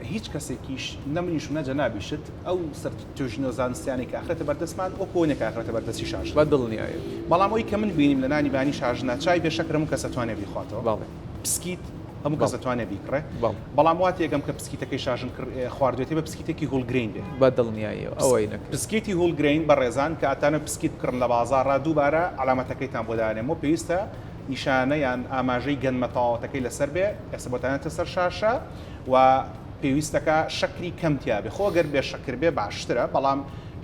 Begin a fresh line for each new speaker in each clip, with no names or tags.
هیچ کەسێکیش، نە منیش و نە جەنابیشت، ئەو سەرتوژنە زانستیانەی کە ئەخرێتە بەردەستمان، وەکو ئەوەنیە کە ئەخرێتە بەردەستی شاژنە. بە دڵنیایی.
بەڵام ئەوەی کە من
بینیم لە نانی بانی شاژنە، چای بێ شەکر هەموو کەس ئەتوانێ بیخواتەوە. بەڵێ. پسکیت هەموو کەس ئەتوانێ بیکڕێ. بەڵێ. بەڵام وا تێگەم
کە پسکیتەکەی
شاژن خواردوێتی بە پسکیتێکی هولگرەین بێ. بە دڵنیاییەوە ئەوەی
نەکرێ. پسکیتی هولگرەین
بەڕێزان کە ئەتانەوێ پسکیت بکڕن لە بازاڕا، دووبارە عەلامەتەکەیتان بۆ دانێمەوە، پێویستە نیشانە یان ئاماژەی گەنمە تەواوەتەکەی لەسەر بێ، ئێستا بۆتان هاتە سەر شاشە، و پێویستەکە شەکری کەم تیابێ خۆ گەر بێ شەکر بێ باشترە بەڵام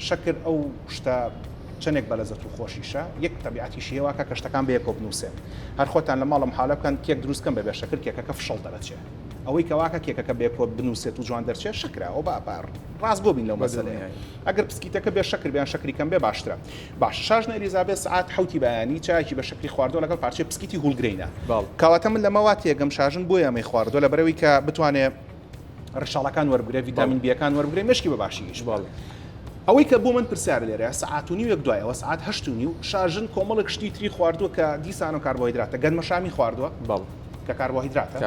شەکر ئەو شتە چەندێک بەلەزەت و خۆشیشە یەک تەبیعەتیشی هێوا کە کەشتەکان بەیەکەوە بنووسێن هەر خۆتان لە ماڵم حالە بکەن کێک دروستکەن بەبێ شەکر کێکەکە فشەڵ دەرەچێ ئەوەی کەواکە کێکەکە بەیەکەوە بنووسێت و جوان دەرچێ شەکرە ئەوە بە ڕاستگۆ بین لەو مەسەلەیە ئەگەر پسکیتەکە بێ شەکر بیان شەکری کەم بێ باشترە باشە شاژنە ئەلیزابێس سەعات حەوتی بەیانی چایەکی بە شەکری خواردوە لەگەڵ پارچەی پسکیتی هولگرەینە کەواتە من لەمە وا تێگەم شاژن بۆ یامەی خواردوە لە بەرەوەی کە بتوانێ ڕشاڵەکان وەربگرێ ویتامین بیەکان وەربگرێ مشکی بە باشی ئیش باڵێ ئەوەی کە بۆ من پرسیار لێرە سعات و نیوێک دوایەوە سعات هەشت و نیو شاژن کۆمەڵک شتی تری خواردووە کە دیسان و کاربۆیدراتە گەنمە شامی خواردووە بەڵ کە کاربۆهیدراتە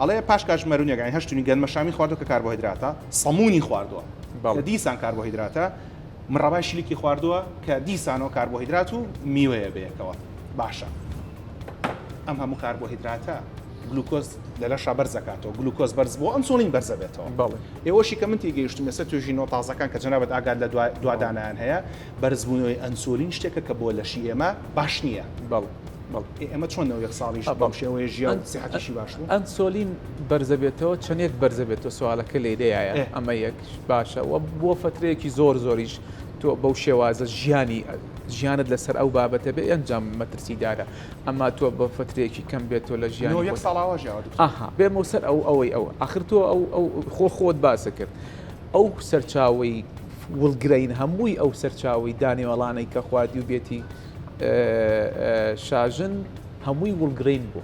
ئەڵێ پاش کاش مەرونەکانی هەشتنی گەنمە شامی خواردووە کە کاربۆهیدراتە سەمونی خواردووە دیسان کاربۆهیدراتە مڕەبای شلیکی خواردووە کە دیسانەوە کاربۆهیدرات و میوەیە بەیەکەوە باشە ئەم هەموو کاربۆهیدراتە گلوکۆز لە لەشا بەرزەکاتەوە گلوکۆز بەرز بۆ ئەم سۆڵین بەرزە بێتەوە بەڵێ ئێوەشی کە من تێگەیشتم ێستا توێژی نۆ تازەکان کە جەنابەت ئاگات لە دوادانیان هەیە بەرزبوونەوەی ئەنسۆلین شتێکە کە بۆ لەشی ئێمە باش نییە بەڵ ئێمە چۆنەوە یەک ساڵیش بەم شێوەیە ژیان سیحەتیشی باش بوو ئەنسۆلین
بەرزەبێتەوە چەندێک بەرزەبێتەوە سوالەکە لێدەیە ئەمە یەک باشە وە بۆ فەترەیەکی زۆر زۆریش تۆ بەو شێوازە ژیانی ژیانت لەسەر ئەو بابەتە بێ ئەنجام مەترسیدارە ئەما تۆ بە فترێکی کەم بێت تۆ لە ژیان یەک ساڵاوە ژیاوەها
بێمە
سەر ئەو ئەوەی ئەو ئاخر تۆ ئەو ئەو خۆ خۆت باسە کرد ئەو سەرچاوی وڵگرین هەمووی ئەو سەرچاوی دانێوەڵانەی کە خوادی و بێتی شاژن هەمووی وڵگرین بوو